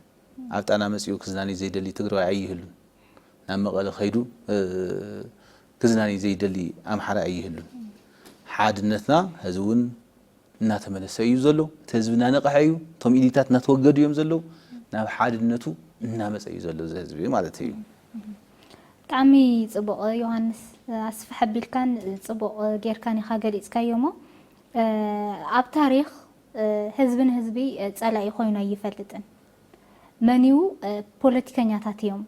ኣብ ጣና መጺኡ ክዝናንይ ዘይደሊ ትግራዋይ ኣይህሉን። ናብ መቐለ ከይዱ ክዝናንይ ዘይደሊ ኣምሓራይ ኣይህሉን። ሓድነትና ሀዚ እውን እናተመለሰ እዩ ዘሎ። እቲ ህዝቢ እናነቐሐ እዩ። እቶም ኢሊታት እናተወገዱ እዮም ዘለዉ። ናብ ሓድነቱ እናመጸ እዩ ዘሎ እዚ ህዝቢ ማለት እዩ። ብጣዕሚ ጽቡቕ ዮሃንስ ኣስፍሕ ኣቢልካን ጽቡቕ ጌርካን ኢኻ ገሊጽካዮ እሞ ኣብ ታሪኽ ህዝቢ ንህዝቢ ጸላኢ ኮይኑ ኣይፈልጥን። መን እዩ ፖለቲከኛታት እዮም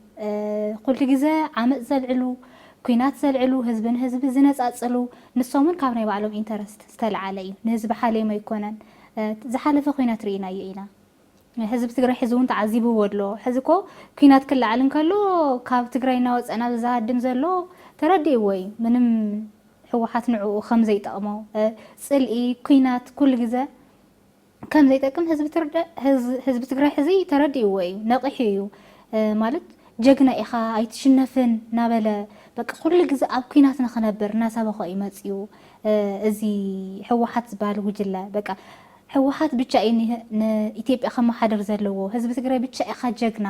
ኩሉ ግዜ ዓመጽ ዘልዕሉ ኩናት ዘልዕሉ ህዝቢ ንህዝቢ ዝነጻጽሉ ንሶም እውን ካብ ናይ ባዕሎም ኢንተረስት ዝተልዓለ እዩ ንህዝቢ ሓልዮም ኣይኮነን ዝሓለፈ ኩናት ርኢናዮ ኢና ህዝቢ ትግራይ ሕዚ እውን ተዓዚብዎ ኣሎ። ሕዚ እኮ ኲናት ክለዓል እንከሎ ካብ ትግራይ እናወፀ ናብዚ ዝሃድም ዘሎ ተረዲእዎ እዩ። ምንም ህወሓት ንዕኡ ከም ዘይጠቕሞ፣ ፅልኢ፣ ኲናት ኩሉ ግዘ ከም ዘይጠቅም ህዝቢ ትግራይ ሕዚ ተረዲእዎ እዩ። ነቒሑ እዩ። ማለት ጀግና ኢኻ ኣይትሽነፍን እናበለ በቃ ኩሉ ግዘ ኣብ ኲናት ንኽነብር እናሰበኾ እዩ መፂኡ እዚ ህወሓት ዝበሃል ጉጅለ በቃ። ህወሓት ብቻ እዩ ንኢትዮጵያ ከመሓድር ዘለዎ ህዝቢ ትግራይ ብቻ ኢኻ ጀግና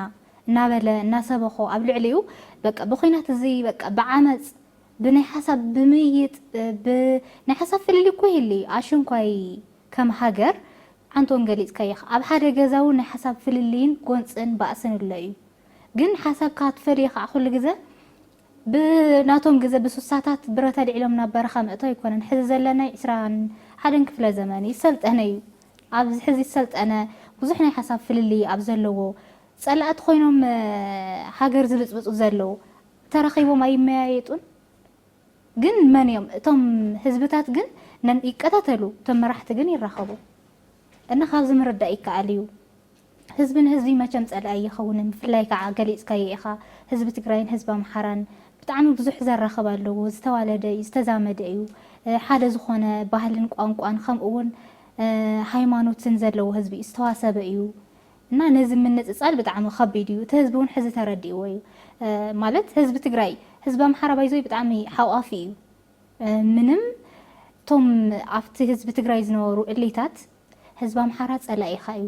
እናበለ እናሰበኾ ኣብ ልዕሊኡ በቃ ብኹናት እዚ በቃ ብዓመፅ ብናይ ሓሳብ ብምይይጥ ብ ናይ ሓሳብ ፍልልይ እኮ ይህሊ ኣሽንኳይ ከም ሃገር ዓንተ እውን ገሊፅካዮ ኢኻ ኣብ ሓደ ገዛ እውን ናይ ሓሳብ ፍልልይን ጎንፅን ባእስን እሎ እዩ ግን ሓሳብካ ክትፈልዮ ከዓ ኩሉ ግዘ ብናቶም ግዘ ብሱሳታት ብረት ኣልዒሎም ናብ በረኻ ምእቶ ኣይኮነን ሕዚ ዘለናይ ዕስራን ሓደን ክፍለ ዘመን እዩ ዝሰልጠነ እዩ ኣብዚ ሕዚ ዝሰልጠነ ብዙሕ ናይ ሓሳብ ፍልልይ ኣብ ዘለዎ ፀላእቲ ኮይኖም ሃገር ዝብፅብፁ ዘለው ተራኺቦም ኣይመያየጡን ግን መን እዮም እቶም ህዝብታት ግን ነን ይቀታተሉ እቶም መራሕቲ ግን ይራኸቡ እና ካብዚ ምርዳእ ይከኣል እዩ። ህዝቢ ንህዝቢ መቸም ጸላኢ ኣይኸውንን ብፍላይ ካዓ ገሊጽካዮ ኢኻ ህዝቢ ትግራይን ህዝቢ ኣምሓራን ብጣዕሚ ብዙሕ ዘራኽብ ኣለዎ ዝተዋለደ እዩ ዝተዛመደ እዩ ሓደ ዝኾነ ባህልን ቋንቋን ከምኡ ውን ሃይማኖትን ዘለዎ ህዝቢ እዩ ዝተዋሰበ እዩ እና ነዚ ምንጽጻል ብጣዕሚ ከቢድ እዩ እቲ ህዝቢ ውን ሕዚ ተረዲእዎ እዩ ማለት ህዝቢ ትግራይ ህዝቢ ኣምሓራ ባይዘወይ ብጣዕሚ ሓቋፊ እዩ ምንም እቶም ኣብቲ ህዝቢ ትግራይ ዝነበሩ እሊታት ህዝቢ ኣምሓራ ጸላኢኻ እዩ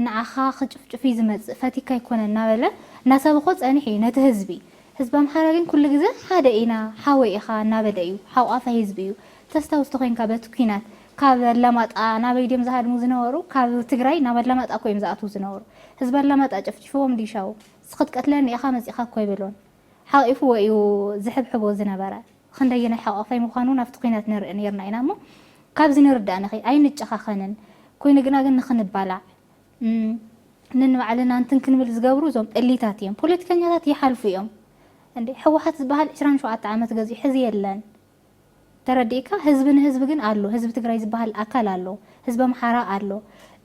ንዓኻ ክጭፍጭፍ እዩ ዝመጽእ ፈቲካ ኣይኮነን እናበለ እናሰበኾ ጸኒሑ እዩ ነቲ ህዝቢ ህዝቢ ኣምሓራ ግን ኩሉ ግዘ ሓደ ኢና ሓወይ ኢኻ እናበለ እዩ ሓቋፋይ ህዝቢ እዩ ተስታውስ ተኾይንካ በቲ ኩናት ካብ ኣላማጣ ናበይ ድዮም ዝሃድሙ ዝነበሩ ካብ ትግራይ ናብ ኣላማጣ እኮ እዮም ዝኣትዉ ዝነበሩ ህዝቢ ኣላማጣ ጨፍጪፍዎም ድዩ ሻው ክትቀትለኒ ኢኻ መጺእኻ እኮ ኣይበሎን ሓቂፍዎ እዩ ዝሕብሕቦ ዝነበረ ኽንደየናይ ሓቛፋይ ምዃኑ ናብቲ ኲናት ንርኢ ኔርና ኢና እሞ ካብዚ ንርዳእንኺ ኣይንጨኻኸንን ኮይኑ ግና ግን ንኽንባላዕ ነንባዕልና እንትን ክንብል ዝገብሩ እዞም እሊታት እዮም ፖለቲከኛታት ይሓልፉ እዮም እንዴ ሕወሓት ዝባሃል ዕስራን ሸውዓተ ዓመት ገዚኡ ሕዚ የለን ተረዲእካ ህዝቢ ንህዝቢ ግን ኣሎ ህዝቢ ትግራይ ዝባሃል ኣካል ኣሎ ህዝቢ ኣምሓራ ኣሎ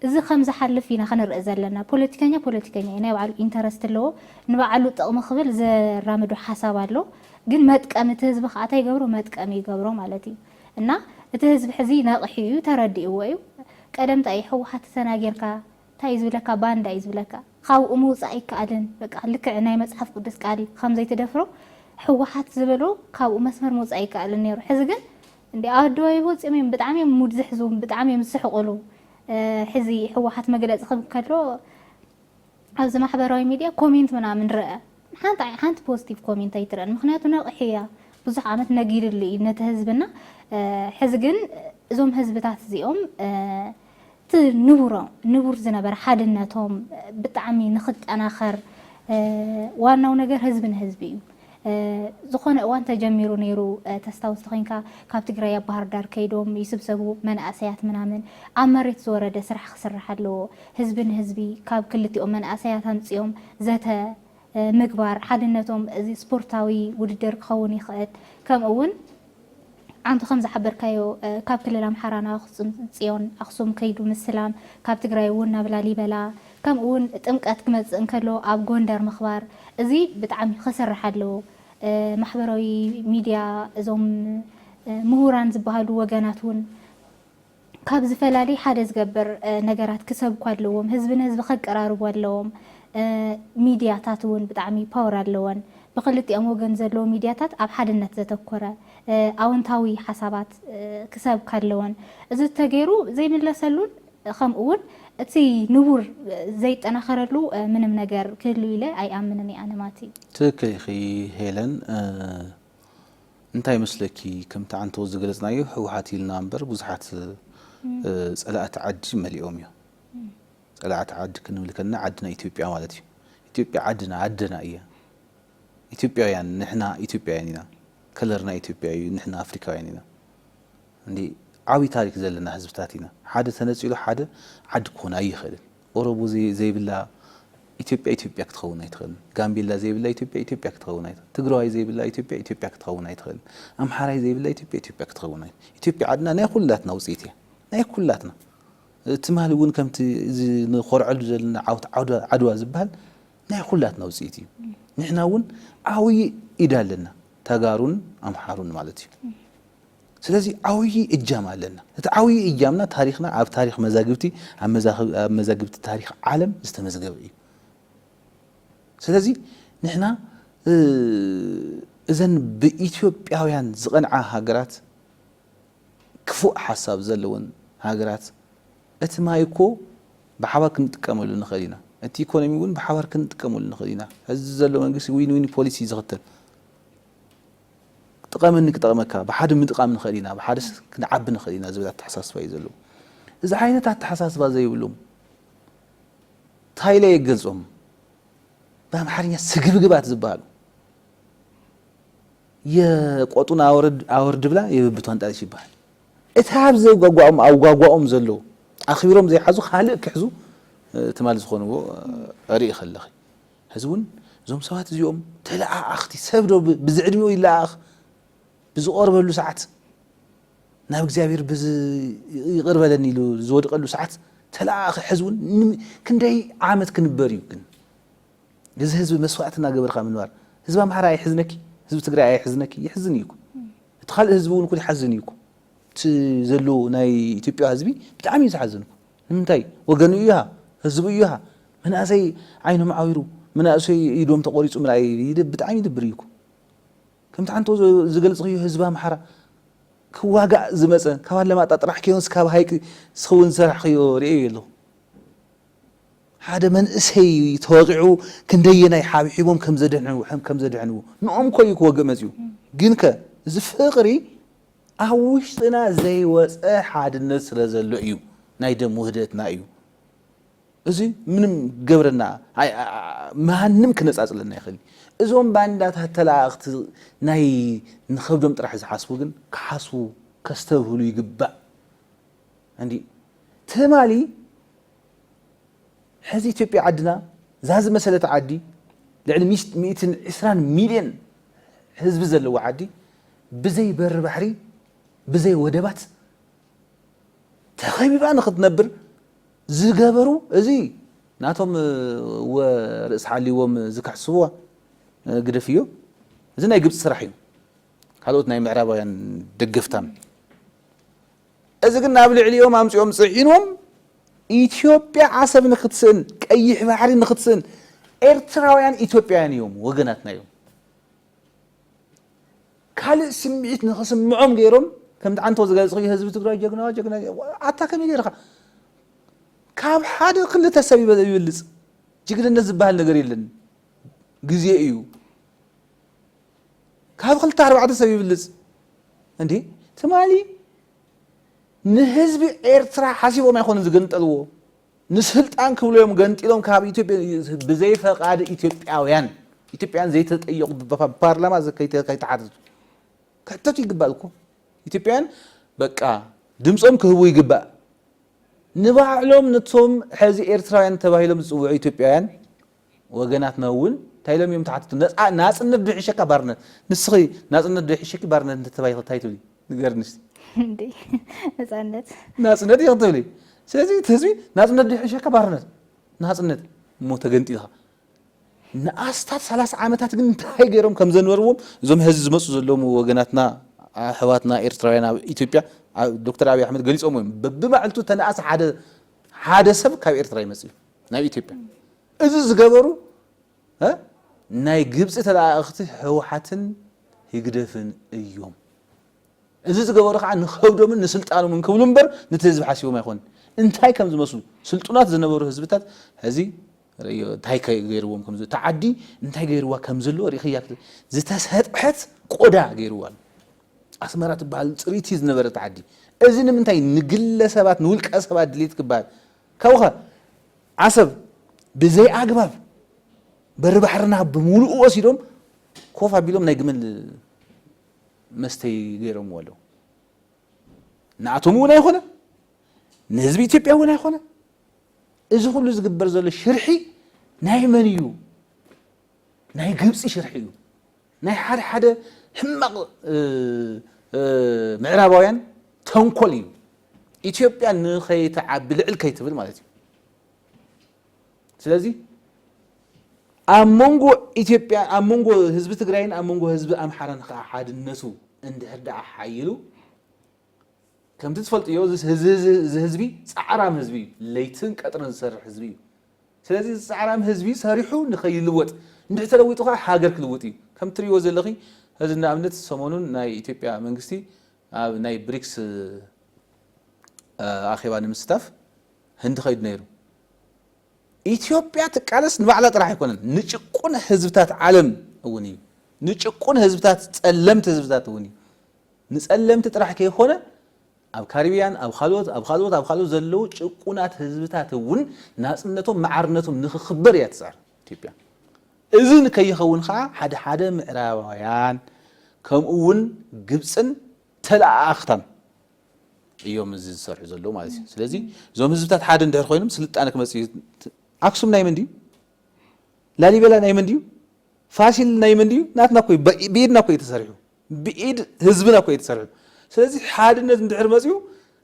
እዚ ከምዝሓልፍ ኢና ክንርኢ ዘለና ፖለቲከኛ ፖለቲከኛ እዩ ናይ ባዕሉ ኢንተረስት ኣለዎ ንባዕሉ ጥቕሚ ክብል ዘራምዶ ሓሳብ ኣሎ ግን መጥቀሚ እቲ ህዝቢ ከኣ ታይ ይገብሮ መጥቀሚ ይገብሮ ማለት እዩ እና እቲ ህዝቢ ሕዚ ነቂሑ እዩ ተረዲእዎ እዩ ቀደም ታይ እዩ ህወሓት ተናጊርካ ታይ እዩ ዝብለካ ባንዳ እዩ ዝብለካ ካብኡ ምውፃእ ኣይከኣልን በቃ ልክዕ ናይ መፅሓፍ ቅዱስ ቃል ከም ዘይትደፍሮ ህወሓት ዝበሎ ካብኡ መስመር ምውፃእ ኣይከኣልን ነይሩ ሕዚ ግን እንዴ ኣዶ ይወፂኦም እዮም ብጣዕሚ እዮም ሙድ ዝሕዙ ብጣዕሚ እዮም ዝስሕቁሉ ሕዚ ህወሓት መግለፂ ክብ ከሎ ኣብዚ ማሕበራዊ ሚድያ ኮሜንት ምናምን ረኣ ሓንቲ ሓንቲ ፖዝቲቭ ኮሜንት ኣይትረኣን ምክንያቱ ነቅሒ እያ ብዙሕ ዓመት ነጊድሉ እዩ ነቲ ህዝብና ሕዚ ግን እዞም ህዝብታት እዚኦም እቲ ንቡሮ ንቡር ዝነበረ ሓድነቶም ብጣዕሚ ንክጠናኸር ዋናው ነገር ህዝቢ ንህዝቢ እዩ ዝኾነ እዋን ተጀሚሩ ነይሩ ተስታውስ ተኾይንካ ካብ ትግራይ ኣብ ባህርዳር ከይዶም ይስብሰቡ መናእሰያት ምናምን ኣብ መሬት ዝወረደ ስራሕ ክስራሕ ኣለዎ ህዝቢ ንህዝቢ ካብ ክልቲኦም መናእሰያት ኣምፂኦም ዘተ ምግባር ሓድነቶም እዚ ስፖርታዊ ውድድር ክኸውን ይኽእል ከምኡ እውን ኣንተ ከምዝሓበርካዮ ካብ ክልል ኣምሓራ ናብ ኣክሱም ፅዮን ኣክሱም ከይዱ ምስላም ካብ ትግራይ እውን ናብ ላሊበላ ከምኡ እውን ጥምቀት ክመፅእ እንከሎ ኣብ ጎንደር ምክባር እዚ ብጣዕሚ ከስርሕ ኣለዎ ማሕበራዊ ሚድያ እዞም ሙሁራን ዝባሃሉ ወገናት እውን ካብ ዝፈላሊ ሓደ ዝገብር ነገራት ክሰብኩ ኣለዎም ህዝቢ ንህዝቢ ከቀራርቡ ኣለዎም ሚድያታት እውን ብጣዕሚ ፓወር ኣለወን ብክልቲኦም ወገን ዘለዎ ሚድያታት ኣብ ሓድነት ዘተኮረ ኣወንታዊ ሓሳባት ክሰብካ ኣለወን እዚ እተገይሩ ዘይምለሰሉን ከምኡ እውን እቲ ንቡር ዘይጠናኸረሉ ምንም ነገር ክህሉ ኢለ ኣይኣምንን እየ ኣነ ማቲ። ትክክል ኢኺ ሄለን እንታይ ይመስለኪ ከምቲ ዓንተቦ ዝገለፅናዮ ህወሓት ኢልና እምበር ብዙሓት ፀላእቲ ዓዲ መሊኦም እዮም። ፀላእቲ ዓዲ ክንብል ከለና ዓድና ኢትዮጵያ ማለት እዩ። ኢትዮጵያ ዓድና ኣደና እያ። ኢትዮጵያውያን ንሕና ኢትዮጵያውያን ኢና። ከለርና ኢትዮጵያ እዩ። ንሕና ኣፍሪካውያን ኢና። እንዲ ዓብይ ታሪክ ዘለና ህዝብታት ኢና። ሓደ ተነፂሉ ሓደ ዓዲ ክኾን ኣይኽእልን። ኦሮሞ ዘይብላ ኢትዮጵያ ኢትዮጵያ ክትኸውን ኣይትኽእልን። ጋምቤላ ዘይብላ ኢትዮጵያ ኢትዮጵያ ክትኸውን ኣይትኽእልን። ትግራዋይ ዘይብላ ኢትዮጵያ ኢትዮጵያ ክትኸውን ኣይትኽእልን። ኣምሓራይ ዘይብላ ኢትዮጵያ ኢትዮጵያ ክትኸውን ኣይትኽእልን። ኢትዮጵያ ዓድና ናይ ኩላትና ውፅኢት እያ። ናይ ኩላትና ትማሊ እውን ከምቲ እዚ ንኾርዐሉ ዘለና ዓውት ዓድዋ ዝበሃል ናይ ኩላትና ውፅኢት እዩ። ንሕና እውን ዓብዪ ኢድ ኣለና ተጋሩን ኣምሓሩን ማለት እዩ። ስለዚ ዓውዪ እጃም ኣለና። እቲ ዓውዪ እጃምና ታሪኽና ኣብ ታሪኽ መዛግብቲ ኣብ መዛግብቲ ታሪኽ ዓለም ዝተመዝገበ እዩ። ስለዚ ንሕና እዘን ብኢትዮጵያውያን ዝቐንዓ ሃገራት ክፉእ ሓሳብ ዘለወን ሃገራት እቲ ማይ እኮ ብሓባር ክንጥቀመሉ ንኽእል ኢና፣ እቲ ኢኮኖሚ እውን ብሓባር ክንጥቀመሉ ንኽእል ኢና። ሕዚ ዘሎ መንግስቲ ዊን ዊን ፖሊሲ ዝኽተል ጥቐመኒ ክጠቕመካ፣ ብሓደ ምጥቓም ንኽእል ኢና፣ ብሓደ ክንዓቢ ንኽእል ኢና ዝብል ኣተሓሳስባ እዩ ዘለዎም። እዚ ዓይነት ኣተሓሳስባ ዘይብሎም ታይ ኢለ እየ ክገልፆም ብኣምሓርኛ ስግብግባት ዝበሃሉ የቆጡን ኣወርድ ኣወርድ ብላ የብብቷን ጣልሽ ይበሃል። እቲ ኣብ ዘጓጓኦም ኣብ ጓጓኦም ዘሎ ኣኽቢሮም ዘይሓዙ ካልእ ክሕዙ ትማል ዝኾንዎ ርኢ ከለኺ ሕዚ እውን እዞም ሰባት እዚኦም ተለኣኣኽቲ፣ ሰብ ዶ ብዝዕድሚኡ ይለኣኣኽ? ብዝቖርበሉ ሰዓት፣ ናብ እግዚኣብሔር ብዝ ይቕር በለኒ ኢሉ ዝወድቐሉ ሰዓት ተለኣኣኺ ሕዚ እውን ን- ክንደይ ዓመት ክንበር እዩ ግን እዚ ህዝቢ መስዋእቲ እናገበርካ ምንባር ህዝቢ ኣምሓራ ኣይሕዝነኪ ህዝቢ ትግራይ ኣይሕዝነኪ ይሕዝን እዩ እኮ እቲ ካልእ ህዝቢ እውን እኮ ይሓዝን እዩ እኮ እቲ ዘሎ ናይ ኢትዮጵያ ህዝቢ ብጣዕሚ እዩ ዝሓዝን እኮ ንምንታይ ወገኑ እዩሃ ህዝቡ እዩሃ መናእሰይ ዓይኖም ዓዊሩ መናእሰይ ኢዶም ተቆሪፁ ምርኣይ ብጣዕሚ ይድብር እዩኩ ከምቲ ሓንቶ ዝገልፅክዮ ህዝቢ ኣምሓራ ክዋጋእ ዝመፀ ካብ ኣለማጣ ጥራሕ ከዮንስ ካብ ሃይቂ ስክውን ዝሰራሕክዮ ርእዮ የለኹ ሓደ መንእሰይ ተወቂዑ ክንደየናይ ሓብሒቦም ከምዘድሕንዎ ከምዘድሕንዎ ንኦም ኮዩ ክወግእ መፅኡ ግንከ እዚ ፍቅሪ ኣብ ውሽጥና ዘይወጸ ሓድነት ስለ ዘሎ እዩ ናይ ደም ውህደትና እዩ እዚ ምንም ገብረና ማንም ክነጻጽለና ይኽእል እዞም ባንዳታት ተላኣእኽቲ ናይ ንኸብዶም ጥራሕ ዝሓስቡ ግን ክሓስቡ ከስተብህሉ ይግባእ እንዲ ትማሊ ሕዚ ኢትዮጵያ ዓድና እዛ ዝመሰለት ዓዲ ልዕሊ ሚእትን ዕስራን ሚልዮን ህዝቢ ዘለዎ ዓዲ ብዘይ በሪ ባሕሪ ብዘይ ወደባት ተኸቢባ ንኽትነብር ዝገበሩ እዚ ናቶም ወ ርእስ ሓልዎም ዝክሕስዋ ግደፍ እዮ እዚ ናይ ግብፂ ስራሕ እዩ ካልኦት ናይ ምዕራባውያን ደገፍታን እዚ ግን ናብ ልዕሊኦም ኣምፂኦም ፅዒኖም ኢትዮጵያ ዓሰብ ንክትስእን ቀይሕ ባሕሪ ንክትስእን ኤርትራውያን ኢትዮጵያውያን እዮም ወገናትና እዮም ካልእ ስምዒት ንክስምዖም ገይሮም ከምቲ ዓንቶ ዝገለፅክዮ ህዝቢ ትግራይ ጀግና ጀግና ኣታ ከመይ ገይርካ ካብ ሓደ ክልተ ሰብ ይበልፅ ጅግንነት ዝበሃል ነገር የለን ግዜ እዩ ካብ ክልተ ኣርባዕተ ሰብ ይብልፅ እንዴ ትማሊ ንህዝቢ ኤርትራ ሓሲቦም ኣይኮኑን ዝግንጠልዎ ንስልጣን ክብሉ እዮም ገንጢሎም ካብ ኢትዮጵ ብዘይ ፈቓድ ኢትዮጵያውያን ኢትዮጵያን ዘይተጠየቑ ብፓርላማ ከይተሓተቱ ክሕተቱ ይግባእ እኮ ኢትዮጵያን በቃ ድምፆም ክህቡ ይግባእ ንባዕሎም ነቶም ሕዚ ኤርትራውያን ተባሂሎም ዝፅውዑ ኢትዮጵያውያን ወገናትና እውን እንታይ ኢሎም እዮም ተሓተቱ? ነፃ ናፅነት ዶ ይሕሸካ ባርነት? ንስኺ ናፅነት ዶ ይሕሸኪ ባርነት እንተተባሂኺ እንታይ ትብሊ? ንገርኒ እስቲ። እንዴ ነፃነት ናፅነት ኢኺ ትብሊ። ስለዚ እቲ ህዝቢ ናፅነት ዶ ይሕሸካ ባርነት? ናፅነት እሞ ተገንጢልኻ ንኣስታት ሰላሳ ዓመታት ግን እንታይ ገይሮም ከም ዘንበርዎም እዞም ሀዚ ዝመፁ ዘለዉ ወገናትና ኣሕዋትና ኤርትራውያን ኣብ ኢትዮጵያ ዶክተር ኣብይ ኣሕመድ ገሊፆም እዮም። በብማዕልቱ ተነኣስ ሓደ ሓደ ሰብ ካብ ኤርትራ ይመፅእ እዩ። ናይ ኢትዮጵያ እዚ ዝገበሩ እ ናይ ግብጺ ተለኣኣኽቲ ህውሓትን ህግደፍን እዮም እዚ ዝገበሩ ከዓ ንኸብዶምን ንስልጣኖምን ክብሉ እምበር ነቲ ህዝቢ ሓሲቦም ኣይኮኑን እንታይ ከም ዝመስሉ ስልጡናት ዝነበሩ ህዝብታት ሕዚ ርእዮ እንታይ ገይርዎም ከም ዘሎ እታ ዓዲ እንታይ ገይርዋ ከም ዘለዎ ርኢኽያ ክት- ዝተሰጥሐት ቆዳ ገይርዋ ኣሎ ኣስመራ ትበሃል ፅሪቲ ዝነበረት ዓዲ እዚ ንምንታይ ንግለ ሰባት ንውልቀ ሰባት ድሌት ክበሃል ካብኡኸ ዓሰብ ብዘይኣግባብ በሪ ባሕርና ብምሉኡ ወሲዶም ኮፍ ኣቢሎም ናይ ግመል መስተይ ገይሮምዎ ኣለዉ። ንኣቶም እውን ኣይኮነ ንህዝቢ ኢትዮጵያ እውን ኣይኮነ። እዚ ኩሉ ዝግበር ዘሎ ሽርሒ ናይ መን እዩ? ናይ ግብፂ ሽርሒ እዩ። ናይ ሓደ ሓደ ሕማቕ ምዕራባውያን ተንኮል እዩ። ኢትዮጵያ ንኸይትዓቢ ልዕል ከይትብል ማለት እዩ። ስለዚ ኣብ መንጎ ኢትዮጵያ ኣብ መንጎ ህዝቢ ትግራይን ኣብ መንጎ ህዝቢ ኣምሓራን ከዓ ሓድነቱ እንድሕር ደኣ ሓይሉ ከምቲ ትፈልጥዮ እዚ ህዝቢ ፃዕራም ህዝቢ እዩ። ለይትን ቀጥርን ዝሰርሕ ህዝቢ እዩ። ስለዚ እዚ ጻዕራም ህዝቢ ሰሪሑ ንኸይልወጥ እንድሕር ተለዊጡ ከኣ ሃገር ክልውጥ እዩ። ከምቲ ትርእይዎ ዘለኺ እዚ ንኣብነት ሰሞኑን ናይ ኢትዮጵያ መንግስቲ ኣብ ናይ ብሪክስ ኣኼባ ንምስታፍ ህንዲ ከይዱ ነይሩ። ኢትዮጵያ ትቃለስ ንባዕላ ጥራሕ ኣይኮነን ንጭቁን ህዝብታት ዓለም እውን እዩ። ንጭቁን ህዝብታት ጸለምቲ ህዝብታት እውን እዩ። ንጸለምቲ ጥራሕ ከይኮነ ኣብ ካሪብያን ኣብ ኻልኦት ኣብ ኻልኦት ኣብ ኻልኦት ዘለዉ ጭቁናት ህዝብታት እውን ናጽነቶም ማዕርነቶም ንኽኽበር እያ ትጽዕር ኢትዮጵያ። እዚ ንከይኸውን ኸኣ ሓደ ሓደ ምዕራባውያን ከምኡ እውን ግብጽን ተለኣኣኽታን እዮም እዚ ዝሰርሑ ዘለዉ ማለት እዩ። ስለዚ እዞም ህዝብታት ሓደ እንድሕር ኾይኖም ስልጣነ ክመጽእ እዩ። ኣክሱም ናይ መን ድዩ? ላሊበላ ናይ መን ድዩ? ፋሲል ናይ መን ድዩ? ናትና እኮ እዩ። ብኢድና እኮ እዩ ተሰሪሑ። ብኢድ ህዝብና እኮ እዩ ተሰሪሑ። ስለዚ ሓድነት እንድሕር መፅዩ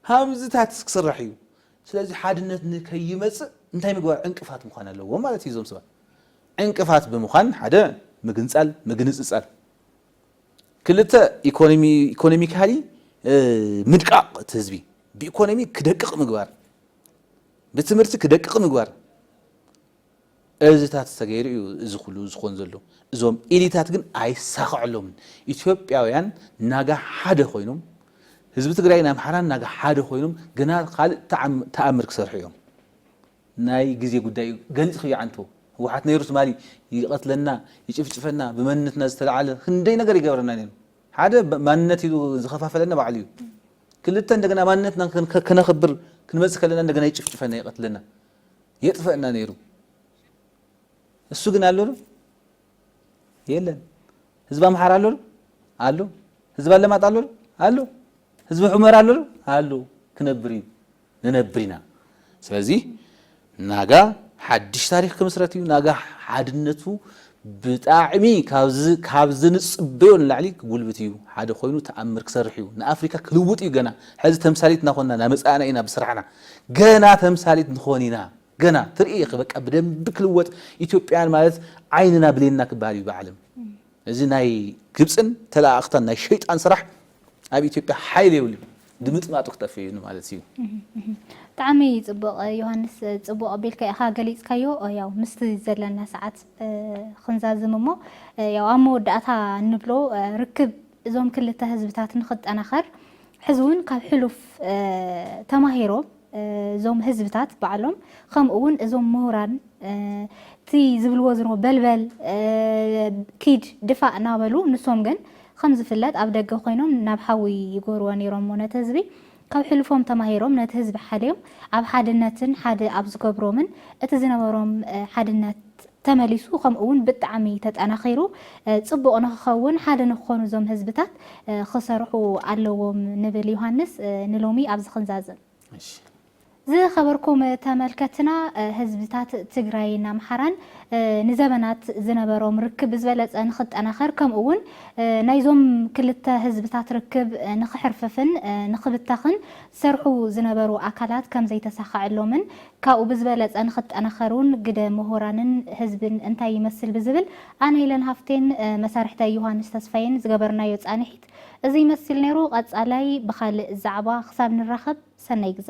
ሃምዝታት ክስራሕ እዩ። ስለዚ ሓድነት ንከይመፅእ እንታይ ምግባር ዕንቅፋት ምዃን ኣለዎም ማለት እዩ እዞም ሰባት። ዕንቅፋት ብምዃን ሓደ ምግንፃል ምግንፅፃል፣ ክልተ ኢኮኖሚካሊ ምድቃቕ እቲ ህዝቢ ብኢኮኖሚ ክደቅቕ ምግባር፣ ብትምህርቲ ክደቅቕ ምግባር፣ እዚታት ተገይሩ እዩ እዚ ኩሉ ዝኮን ዘሎ እዞም ኢሊታት ግን ኣይሳከዐሎምን ኢትዮጵያውያን ናጋ ሓደ ኮይኖም ህዝቢ ትግራይን ኣምሓራን ናጋ ሓደ ኮይኖም ገና ካልእ ታኣምር ክሰርሑ እዮም ናይ ግዜ ጉዳይ እዩ ገሊፅክዮ ዓንቶ ህወሓት ነይሩ ትማሊ ይቀትለና ይጭፍጭፈና ብመንነትና ዝተላዓለ ክንደይ ነገር ይገብረና ነይሩ ሓደ ማንነት ኢሉ ዝከፋፈለና ባዕሉ እዩ ክልተ እንደገና ማንነትና ከነክብር ክንመፅእ ከለና እንደገና ይጭፍጭፈና ይቀትለና የጥፈእና ነይሩ እሱ ግን ኣሎ ዶ የለን ህዝቢ ኣምሓራ ኣሎ ዶ ኣሎ ህዝቢ ኣለማጣ ኣሎ ዶ ኣሎ ህዝቢ ሑመራ ኣሎ ዶ ኣሎ ክነብር እዩ ንነብር ኢና ስለዚ ናጋ ሓድሽ ታሪክ ክምስረት እዩ ናጋ ሓድነቱ ብጣዕሚ ካብ ዝንጽበዮ ንላዕሊ ክጉልብት ኢዩ ሓደ ኮይኑ ተኣምር ክሰርሕ ኢዩ ንኣፍሪካ ክልውጥ ኢዩ ገና ሕዚ ተምሳሊት እናኮንና ናመጻእና ኢና ብስራሕና ገና ተምሳሊት ንኮን ኢና ገና ትርኢ ኢኪ በቃ ብደንቢ ክልወጥ ኢትዮጵያን ማለት ዓይንና ብሌንና ክበሃል ኢዩ ብዓለም እዚ ናይ ግብጽን ተለኣኣክታን ናይ ሸይጣን ስራሕ ኣብ ኢትዮጵያ ሓይሊ የብሉን ድምጥማጡ ክጠፍእ እዩ ንማለት እዩ። ብጣዕሚ ጽቡቕ ዮሃንስ ጽቡቕ ኣቢልካ ኢኻ ገሊጽካዮ ያው ምስቲ ዘለና ሰዓት ክንዛዝም እሞ ያው ኣብ መወዳእታ እንብሎ ርክብ እዞም ክልተ ህዝብታት ንኽጠናኸር ሕዚ እውን ካብ ሕሉፍ ተማሂሮም እዞም ህዝብታት ባዕሎም ከምኡ እውን እዞም ምሁራን እቲ ዝብልዎ ዝሮ በልበል ኪድ ድፋእ እናበሉ ንሶም ግን ከም ዝፍለጥ ኣብ ደገ ኮይኖም ናብ ሓዊ ይጎርዎ ነይሮሞ ነቲ ህዝቢ ካብ ሕልፎም ተማሂሮም ነቲ ህዝቢ ሓልዮም ኣብ ሓድነትን ሓደ ኣብ ዝገብሮምን እቲ ዝነበሮም ሓድነት ተመሊሱ ከምኡ ውን ብጣዕሚ ተጠናኺሩ ፅቡቕ ንኽኸውን ሓደ ንኽኾኑ እዞም ህዝብታት ኽሰርሑ ኣለዎም ንብል ዮሃንስ ንሎሚ ኣብዚ ኽንዛዝም። እሺ። ዝኸበርኩም ተመልከትና ህዝብታት ትግራይን ኣምሓራን ንዘበናት ዝነበሮም ርክብ ብዝበለፀ ንኽጠናኸር ከምኡ ውን ናይዞም ክልተ ህዝብታት ርክብ ንኽሕርፍፍን ንኽብተኽን ዝሰርሑ ዝነበሩ ኣካላት ከምዘይተሳኸዐሎምን ካብኡ ብዝበለፀ ንክጠናኸሩን ግደ ምሁራንን ህዝብን እንታይ ይመስል ብዝብል ኣነ ኢለን ሃፍቴን መሳርሕተይ ዮሃንስ ተስፋዬን ዝገበርናዮ ፃንሒት እዙይ ይመስል ነይሩ። ቐፃላይ ብኻልእ ዛዕባ ክሳብ ንራኸብ ሰናይ ግዘ።